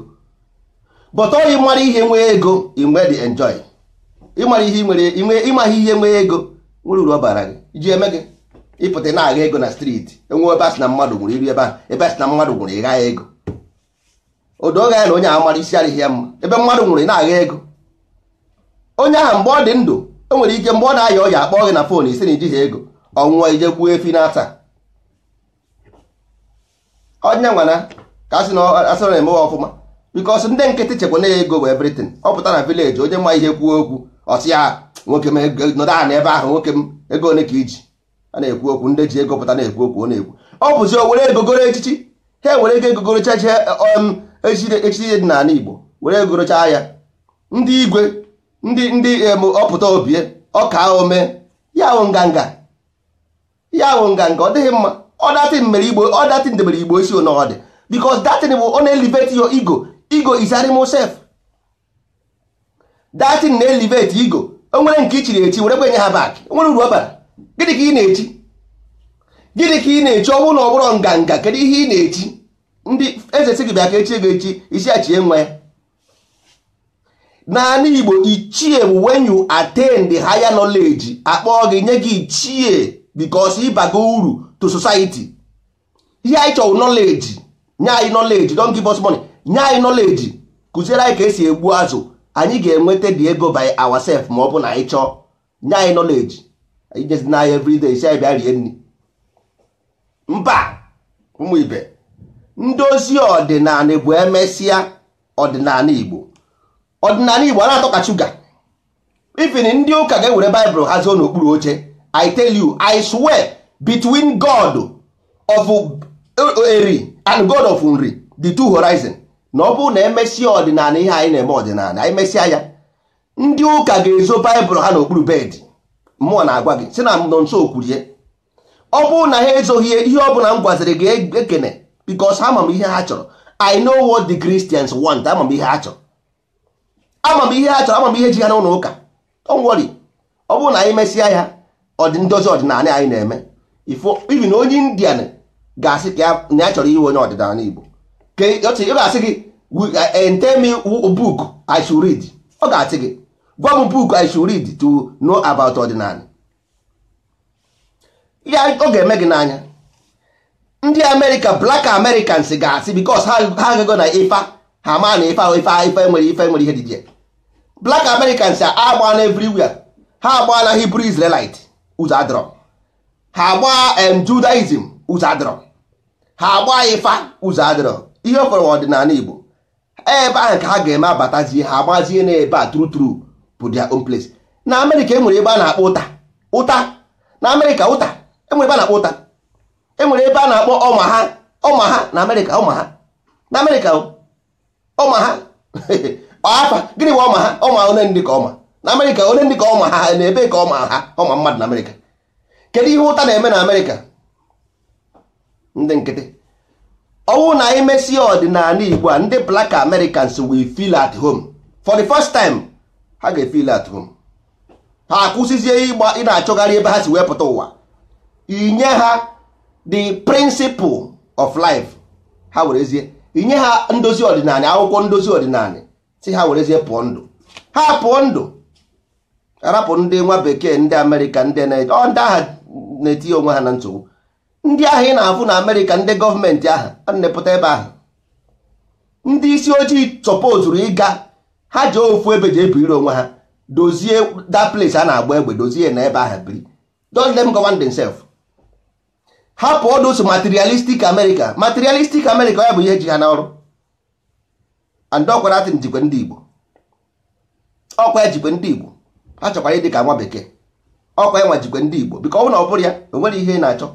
but ọ ịmara ihe nwee ego inwe the enjoy ịmara ihe nwere ịmaghị ihe nwee ego nwere uru ọ bara gị i ji eme gịnị ị pụta na-agha ego na street e nwee ebe asị na mmadụ nwụrụ i ruo ebe ahụ ebe asị na mmadụ nwụrụ ị gha ya ego o doo gị anya na onye ahụ mara isi adịghị ya mma ebe mmadụ nwụrụ ị na-agha ego onye ahụ mgbe ọ dị ndụ e nwere ike mgbe ọ na-aya ọya akpọ gị na fon ị sị na i jighị ego ọ nwụọ i jee gbuo efi na-ata onye nwana ka asị na asị na emewe ọfụma because ndị nkịtị chekwa na ego bụ everything ọ pụta na village onye ma ihe kwuo okwu ọ sị ya nwoke m nọdụ anị ebe ahụ nwoke m ego ole ka i ji a na-ekwu okwu ndị ji ego pụta na-ekwu okwu ọ na-ekwu ọ bụzi o were ego goro echichi ha were ego gorocha chi um, echichi dị n'anị Igbo were ego gorocha ya ndị igwe ndị ndị ọpụta obie ọkaa omee ya wụ nganga ya wụ nganga ọ dịghị mma ọ that thing mere igbo ọ that thing debere igbo isi ọnọdụ because that thing bụ ọ na-elevate your ego ego is animal self that thing na-elevate ego o nwere nke i chiri echi were kwenye ha back o nwere uru ọ bara gịnị ka ị na-echi gịnị ka ị na-echi ọ bụrụ na ọ bụrọ nganga kedu ihe ị na-echi ndị eze sị gị bịa ka e chie gị echi ị sị ya chie nwa ya n'anị igbo ichie bụ when you attain the higher knowledge akpọọ gị nye gị ichie because ị bago uru to society ihe anyị chọrọ knowledge nye anyị knowledge don't give us money nye anyị knowledge kụziere anyị ka e si egbu azụ anyị ga-enweta the ego by ourselves ma ọ bụ na anyị chọọ nye anyị knowledge anyị jezi na anyị everyday sị anyị bịa rie nri mba ụmụ ibe ndozi ọdịnanị bụ e mesịa ọdịnanị igbo ọdịnanị igbo a na-atọ ka shuga even ndị ụka ga-ewere baịbụl ha zoo n'okpuru oche i tell you i swear between god of eri and god of nri the two horizon na ọ bụrụ na e mesịa ọdịnanị ihe anyị na-eme ọdịnanị anyị mesịa ya ndị ụka ga-ezo baịbụl ha n'okpuru bed mụwa na-agwa gị sị na nọnso kwuru ya ọ bụrụ na ha ezoghị ya ihe ọ bụla m gwaziri gị ekwena because ama m ihe ha chọrọ i know what the christians want ama m ihe ha chọrọ ama m ihe ha chọrọ ama m ihe ji ha n'ụlọ ụka don't worry ọ bụrụ na anyị mesịa ya ọdị ndozi ọdịnanị anyị na-eme even onye indian ga-asị ka ya- na ya chọrọ ịwụ onye ọdịnanị igbo ka ị ọ sị- ọ ga-asị gị "We- eh, eh, tell me who- book i should read ọ ga-asị gị gwa m book i should read to know about ọdịnanị ya ọ ga-eme gị n'anya ndị amerịka black americans ga-asị because ha agago na ifa ha ma na ifa ifa ifa nwere ife nwere ihe dị ya black americans agbaana everywhere ha agbaa na hebrew israelite ụzọ adịrọ ha agbaa em judaism ụzọ adịrọ ha agbaa ifa ụzọ adịrọ ihe fọrọ wụ ọdịnanị igbo ebe ahụ ka ha ga-eme abatazie ha agbazie n'ebe a true true bụ their own place na amerịka enwere ebe a na-akpọ utah utah na amerịka utah enwere ebe a na-akpọ utah enwere ebe a na-akpọ omaha omaha na amerịka omaha na amerịka omaha afa gịnị bụ omaha ọma one ndị ka ọma na amerịka one ndị ka ọma ha na ebe ka ọma ha ọma mmadụ na amerịka kedu ihe utah na-eme na amerịka ndị nkịtị ọ wụ na anyị mesie ọdịnanị igbo a ndị black americans will feel at home for the first time ha ga-efeel at home ha akwụsịzie ịgba ị na-achọgharị ebe ha si wee pụta ụwa i nye ha the principle of life ha werezie i nye ha ndozi ọdịnanị akwụkwọ ndozi ọdịnanị sị ha werezie pụọ ndụ ha pụọ ndụ arapụ ndị nwa bekee ndị amerịka ndị na-eje ọ ndị agha na-etinye onwe ha na nsogbu ndị ahụ ị na-afụ na amerịka ndị gọọmenti ahụ a na-epụta ebe ahụ ndị isi ojii sọpozuru ịga ha ji ofu ebe ji ebiri onwe ha dozie that place a na-agba egbe dozie na ebe ahụ biri don't let them govern themselves hapụ all those materialistic america materialistic america ya bụ ihe ji ha n'oru and ọkwa that thing jikwe ndị Igbo ọkwa ya jikwe ndị Igbo ha chọkwara ịdị ka nwa bekee ọkwa ya nwa jikwe ndị Igbo because ọ bụrụ na ọ bụrụ ya o nwere ihe ị na-achọ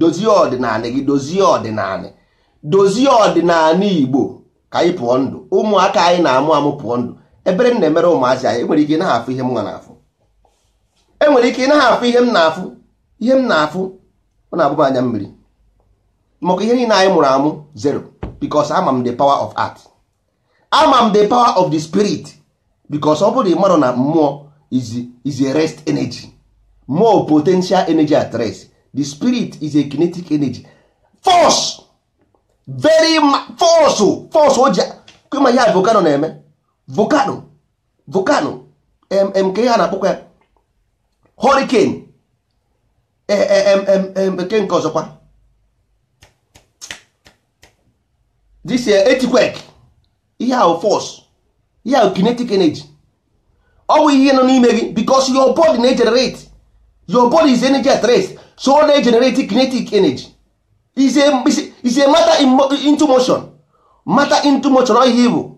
dozie ọdịnanị gị dozie ọdịnanị dozie ọdịnanị Igbo ka anyị pụọ ndụ ụmụaka anyị na-amụ amụ pụọ ndụ ebere m na-emere ụmụazị anyị enwere ike ị naghị afụ ihe m nwa na-afụ enwere ike ị naghị afụ ihe m na-afụ ihe m na-afụ ọ na-agba m anya mmiri maka ihe niile anyị mụrụ amụ zero because ama m the power of art ama m the power of the spirit because ọ bụrụ mmadụ na mmụọ is is a rest energy more potential energy at rest the spirit is a kinetic energy force very force force o ji ma ihe a volcano na-eme volcano volcano kee ihe a na-akpọkwa ya hurricane eke nke ọzọkwa this earthquake ihe ahụ force ihe ahụ kinetic energy ọ bụ ihe nọ n'ime gị because your body na-egenerate your body is energy at rest so ọ na-egenerate kinetic energy is a matter into motion matter into motion ọ ihe ọ bụ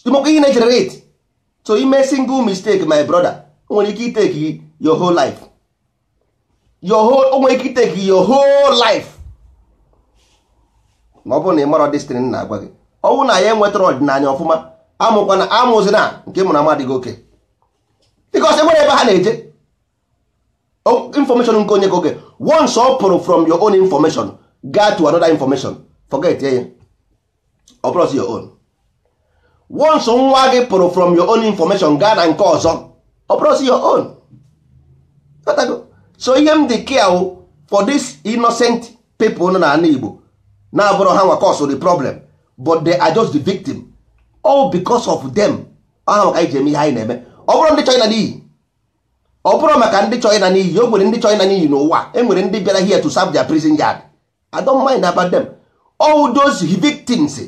ị makwa ihe ị na-egenerate so i mee single mistake my brother nwere ike itake your whole life o nwere ike itake your whole life ma ọ bụrụ na ị marọ this thing m na-agwa gị ọ bụrụ na anyị enwetarọ ọdịnanị ọfụma amụkwana amụzina nke ị mụrụ amadị gị okay because enwere ebe ha na-eje information nke onye ka oge once ọ pụrụ from your own information gaa to another information forget ya ọ bụrọzi your own once nwa gị pụrụ from your own information gaa na nke ọzọ ọ bụrọzi your own so ihe m dị care for this innocent people nọ n'anị Igbo na-abụrọ ha nwa cause the problem but they are just the victim all because of them aha maka anyị ji eme ihe anyị na-eme ọ bụrọ ndị chọ ịna n'iyi ọ bụrọ maka ndị chọrọ ịna n'iyi o nwere ndị chọrọ ịna n'iyi n'ụwa e nwere ndị bịara here to serve their prison yard I don't mind about them all those victims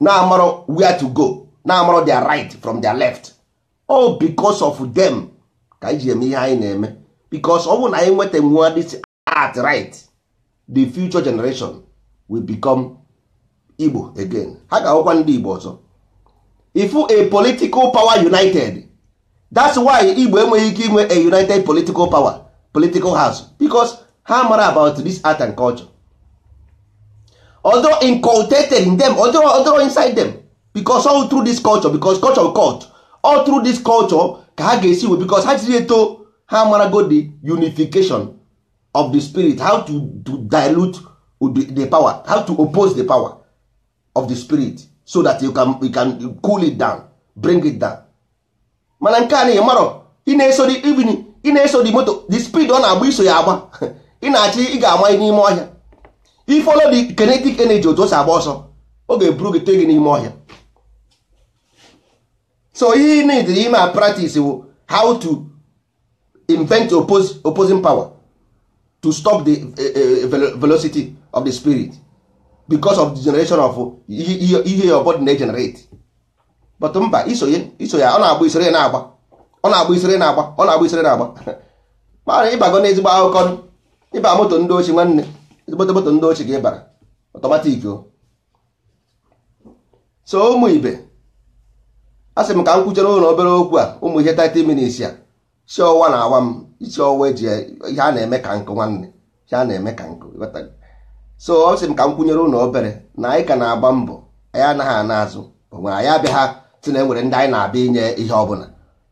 na-amarọ where to go na-amarọ their right from their left all because of them ka anyị ji eme ihe anyị na-eme because ọ bụrụ na anyị nweta nwa this at right the future generation will become Igbo again ha ga-awụkwa ndị Igbo ọzọ ifu a political power united that's why Igbo enweghị ike inwe a united political power political house because ha mara about this art and culture although inculcated in them although, although inside them because all through this culture because culture cult all through this culture ka ha ga-esi we because ha jiri eto ha marago the unification of the spirit how to, to dilute the, the power how to oppose the power of the spirit so that you can, you can cool it down bring it down mana nke a na ị marọ ị na-eso the even ị na-eso the moto the speed ọ na-agba i so ya agba ị na-achị ị ga-ama n'ime ọhịa i follow the kinetic energy otu o si agba ọsọ ọ ga-eburu gị tee gị n'ime ọhịa so ihe need ime a practice wụ how to invent oppose, opposing power to stop the uh, velocity of the spirit because of the generation of ihe your body na-generate but mba isonye isonye ọ na-agba isere na-agba ọ na-agba isere na-agba ọ na-agba isere na-agba mara ịbago na ezigbo akụkọ ịba moto ndị ochi nwanne ezigbote moto ndị ochi ga ịbara ọtọmatik o so ụmụ ibe a sị m ka m kwuchere unu obere okwu a ụmụ ihe 30 minutes a isi ọwa na-awa m isi ọwa eji ihe a na-eme ka nkụ nwanne ihe a na-eme ka nkụ so ọ sị m ka m kwunyere unu obere na anyị ka na-agba mbọ anyị anaghị ana azụ onwe anyị abịaghị sị na enwere ndị anyị na-abịa inye ihe ọbụna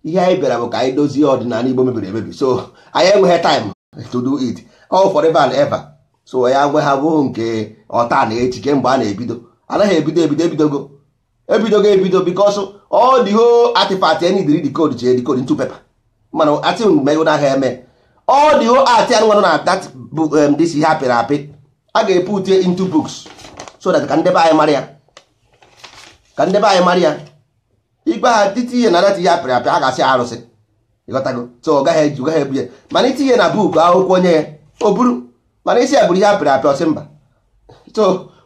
ihe anyị bịara bụ ka anyị dozie ọdịnanị Igbo mebiri emebi so anyị enweghị time to do it all forever and ever so ya gwa ha bụ nke ọ taa na echi kemgbe a na-ebido anaghị ebido ebido ebidogo ebidogo ebido because all the whole artifact anyị diri decode ji edecode into paper mana ati mgbe na ahịa eme all the whole art anụ nwanụ na that bụ this ihe apịrị apị a ga-epute into books so that ka ndị be anyị mara ya ibe ha titinye na that ihe apịrị apị a ga-asị arụsị ịghọtago so ọ gaghị eji gaghị ebu ya mana i tinye na book akwụkwọ i nye ya o buru mana ị sị ya buru ihe apịrị apị ọ sị mba so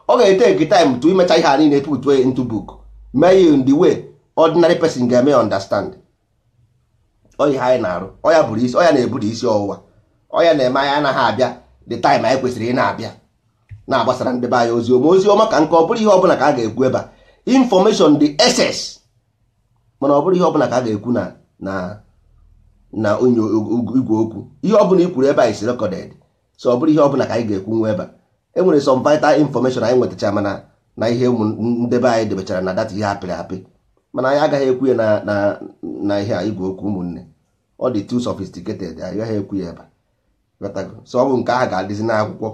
ọ ga-etake time to imecha ihe a niile put ya into book mee ya in the way ordinary person ga-eme understand ọ ihe a anyị na-arụ ọ ya bụrụ isi ọ ya na-ebute isi ọwụwa ọ ya na-eme anyị anaghị abịa the time anyị kwesịrị ị na-abịa na-agbasara ndị be anyị ozi ọma ozi ọma ka nke ọ bụrụ ihe ọbụla ka a ga-ekwu ebe a information dị excess mana ọ bụrụ ihe ọbụla ka a ga-ekwu na na na onye igwe okwu ihe ọbụla i kwuru ebe a is recorded so ọ bụrụ ihe ọbụla ka anyị ga-ekwu nwa ebe a enwere some vital information anyị nwetacha mana na ihe ụmụ ndị be anyị debechara na that ihe apịrị apị mana anyị agaghị ekwu ya na ihe a igwe okwu ụmụnne ọ dị too sophisticated anyị gaghị ekwu ya ebe a so ọ bụ nke ahụ ga-adịzi n'akwụkwọ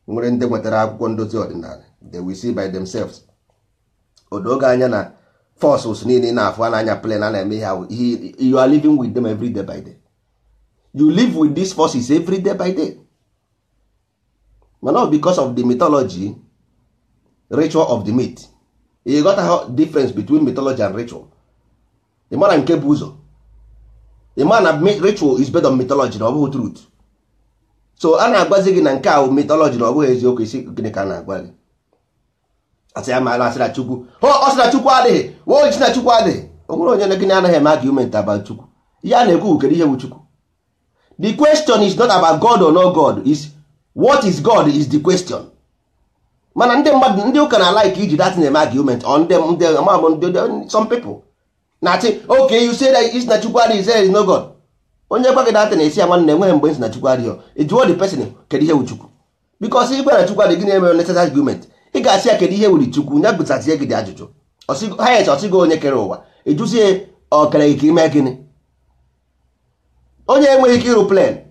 nwere ndị nwetara akwụkwọ ndozi ọdịnala they will see by themselves o doo gị anya na forces niile ị na-afụ a na-anya plane a na-eme ihe you are living with them every day by day you live with these forces every day by day mana because of the mythology ritual of the myth ị ghọtaghị difference between mythology and ritual ị mara nke bụ ụzọ ị mara na ritual is based on mythology na ọ bụghị truth so a na-agwazi gị na nke ahụ mythology na ọ bụghị eziokwu ị sị gịnị ka a na-agwa gị a sị ya mana a sị na chukwu ọ sị na chukwu adịghị woo sị na chukwu adịghị o nwere onye na gịnị anaghị eme argument about chukwu ihe a na-ekwu wu kedu ihe wu chukwu the question is not about god or no god is what is god is the question mana ndị mmadụ ndị ụka na-alike iji that eme argument on ndị ndị amam ndị some people na-asị okay you say that is na chukwu adịghị there is no god onye gwa gị that na-asị ya nwanne enweghị mgbe a sị na chukwu adịghị jụọ the person kedu ihe wu chukwu because i kwuo na chukwu adịghị na-eme unnecessary argument ị ga-asị ya kedu ihe wuri chukwu ya ga-azazi gị the ajụjụ ahụ yes ọ sị gị onye kere ụwa ị jụzie ọ kere gị ka i mee gịnị onye enweghị ike ịrụ plane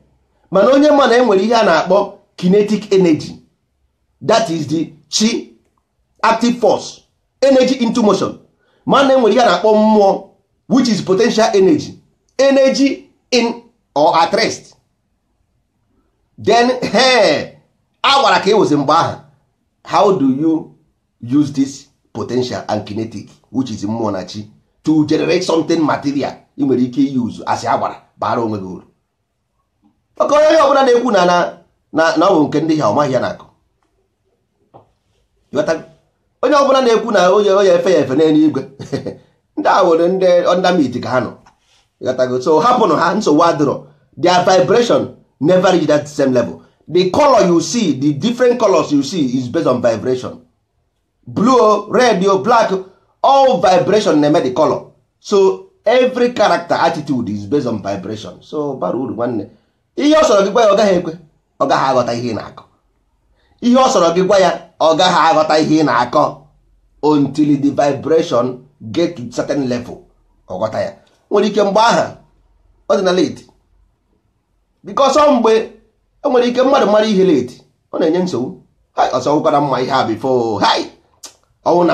mana onye ma na enwere ihe a na-akpọ kinetic energy that is the chi active force energy into motion mana enwere ihe a na-akpọ mmụọ which is potential energy energy in or at rest then ihe a gwara ka ewezi mgbe ahụ how do you use this potential and kinetic which is mmụọ na chi to generate something material ị nwere ike use asị agbara bara onwe gị uru maka onye onye ọbụla na-ekwu na na na ọ bụ nke ndị ha ọ maghị ihe a na-akọ onye ọbụla na-ekwu na onye onye efe ya efe n'elu igwe ndị a nwere ndị underneath ka ha nọ ịghọtago so hapụnụ ha nsogbu adịrọ their vibration never reach that same level the color you see the different colors you see is based on vibration blue red o black all vibration na-eme the color so every character attitude is based on vibration so bara uru nwanne ihe ọ sọrọ gị gwa ya ọ gaghị ekwe ọ gaghị aghọta ihe ị na-akọ ihe ọ sọrọ gị gwa ya ọ gaghị aghọta ihe ị na-akọ until the vibration get to certain level ọ ghọta ya nwere ike mgbe aha ọ dị na late because ọ mgbe enwere ike mmadụ mara ihe late ọ na-enye nsogbu ọ sị ọ wụkwa na m ma ihe a before hai ọ wụ na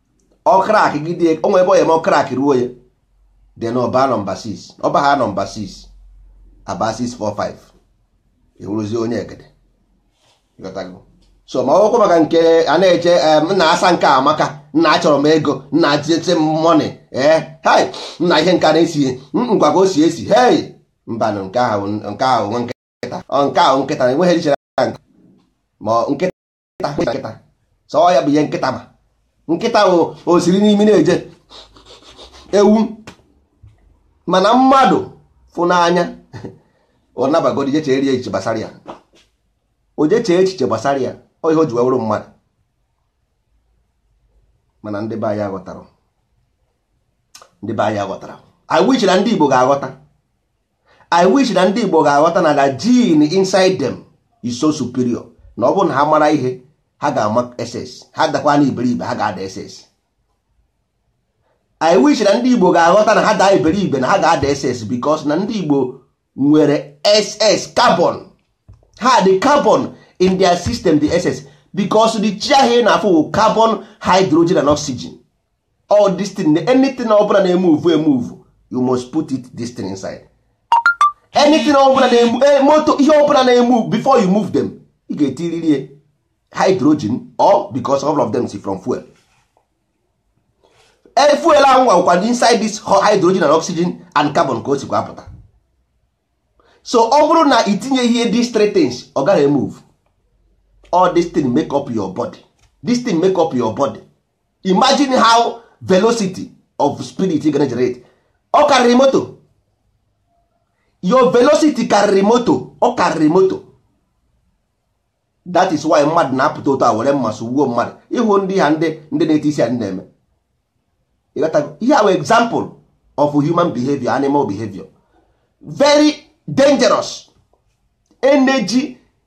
ọ crack gide o nwee ebe onye ma ọ crack ruo ya then ọ baa number 6 ọ bahaa number 6 aba 645 ị wụrụzie onye egede so ma ọ wụkwa maka nke a na-eche nna asa nke a amaka nna achọrọ m ego nna atịtị m money ee eh, hai nna ihe nke a na-esi ngwa ka o si esi hei mbanụ nke ahụ nke ahụ nwa nkịta nke ahụ nkịta na enweghị ihere ma nkịta nkịta nkịta sọ ya bụ ihe nkịta ma nkịta o siri n'imi na-eje ewu mana mmadụ fụ n'anya ọ nabagodi je chere echiche gbasara ya o je chee echiche gbasara ya ọ ihe o ji wee wụrụ mmadụ mana ndị be anyị aghọtara ndị be anyị aghọtara i wish na ndị Igbo ga-aghọta i wish na ndị igbo ga-aghọta na the gene inside them is so superior na ọ bụrụ na ha mara ihe ha ga-ama excess ha dakwa na iberibe ha ga-ada excess i wish na ndị igbo ga-aghọta na ha daa iberibe na ha ga-ada excess because na ndị igbo nwere excess carbon ha the carbon in their system dị excess because the chi ahụ ị na-afụ carbon hydrogen and oxygen all this thing anything ọbụla na-emove emove you must put it this thing inside anything ọbụla na-emove eh, motor ihe ọbụla na-emove before you move them ị ga-etiriri hydrogen or because all of them si from fuel eh, fuel ahụ ọ wụkwa inside this hydrogen and oxygen and carbon ka o sikwa apụta so ọ bụrụ na i tinyeghị these three things ọ gaghị move all this thing make up your body this thing make up your body imagine how velocity of spirit ị ga generate ọ karịrị moto your velocity karịrị moto ọ karịrị moto that is why mmadụ na-apụta ụtọ a were mma sụgbuo mmadụ ị hụ ndị a ndị ndị na-eti isi ndị na-eme ihe a wụ example of human behavior animal behavior very dangerous energy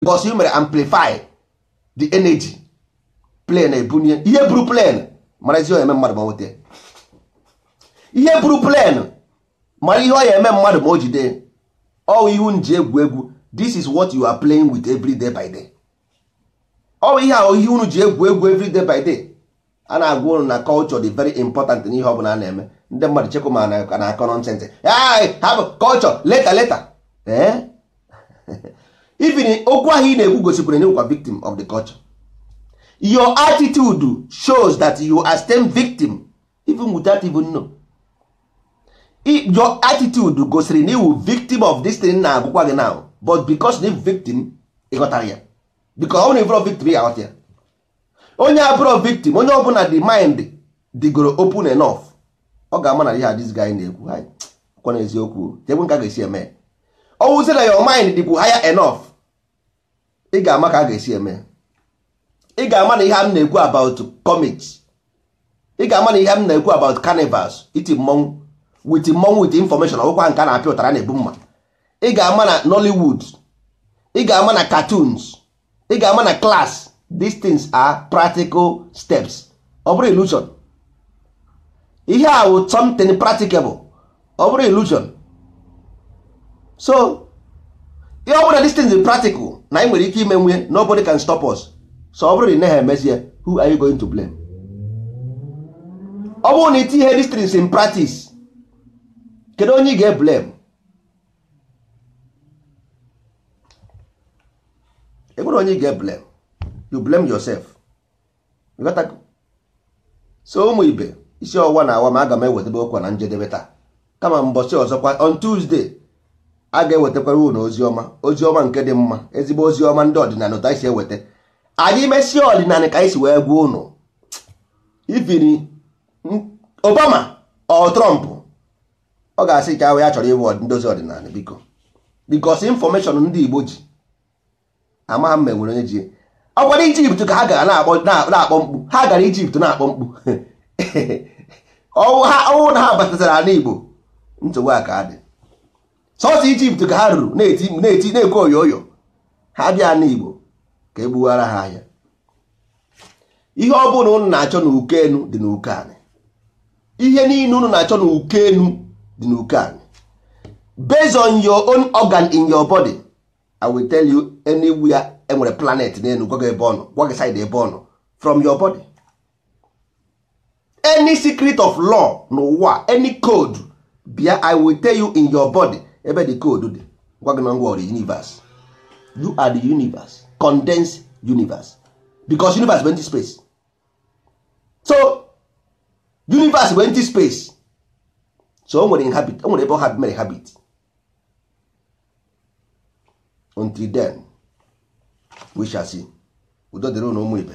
because you mere amplify the energy plane ebunie ihe buru plane mara ihe ọ ya eme mmadụ ma o nweta ihe buru plane mara ihe ọ ya eme mmadụ ma o jide ọ wụ ihe unu ji egwu egwu this is what you are playing with every day by day ọ wụ ihe ahụ ihe unu ji egwu egwu every day by day a na-agwa ụnụ na culture dị very important n'ihe ọ bụla a na-eme ndị mmadụ chekwa ma ka na-akọ nonsense ha bụ culture later later eh? even okwu ahụ ị na-ekwu gosipụrụ na ị wụkwa victim of the culture your attitude shows that you are still victim even without even know your attitude gosiri na ị wụ victim of this thing na-agwakwa gị now but because na victim ị ghọtarọ ya because ọ bụrụ na ị bụrọ victim ị ya aghọta ya onye abụrọ victim onye ọbụna the mind dịgoro open enough ọ ga-ama na ihe a this guy na-ekwu kwa na eziokwu jegbu ka a ga-esi eme ọ wụzi na your mind dịkwu higher enough ị ga-ama ka a ga-esi eme ị ga-ama na ihe m na-ekwu about comics ị ga-ama na ihe m na-ekwu about carnivals iti mmọnwụ with mmọnwụ with information ọ wụkwa nke a na-apịa ụtarị na-ebu mma ị ga-ama na Nollywood ị ga-ama na cartoons ị ga-ama na class these things are practical steps ọ bụrọ illusion ihe a wụ something practicable ọ bụrọ illusion so ihe ọ bụ na these things is practical na anyị nwere ike imenwu ya nobody can stop us so ọ bụrụ na ị naghị emezie who are you going to blame ọ bụrụ na i tinye these things in practice kedu onye ị ga-eblame enwere onye ị ga-eblame you blame yourself so ụmụ ibe isi ọwụwa na-awa m aga m ewetebe okwa na njedebe taa kama mbọchị ọzọkwa on Tuesday a ga-ewetakwara unu ozi ọma ozi ọma nke dị mma ezigbo ozi ọma ndị ọdịnanị otu a e si eweta anyị mesie ọdịnanị ka anyị si wee gwa unu even Obama or Trump ọ ga-asị ka ahụ ya chọrọ ịbụ ndị ozi ọdịnanị biko because information ndị Igbo ji amaghị m ma e nwere onye ji ọ kwa Egypt ka ha gara na-akpọ mkpu ha gara Egypt na-akpọ mkpu ọ wụ na ha batazara ana igbo nsogbu a ka dị sọsọ Egypt ka ha ruru na-eti na-ekwe oyoyo ha bịa ana igbo ka e gbuwara ha ahịa ihe ọ bụla unu na-achọ na uke enu dị na uke anị ihe niile unu na-achọ na uke enu dị na uke anị based on your own organ in your body i will tell you anywhere e nwere planet n'enu gwa gị ebe ọ nọ gwa gị side ebe ọ nọ from your body any secret of law n'ụwa any code bịa i will tell you in your body ebe the code dị gwa gị na gịnwa bụ universe you are the universe condensed universe because universe bụ empty space so universe bụ empty space so o nwere inhabit o nwere ebe ọ ha mere habit until then we shall see udo dịrị unu ụmụ ibe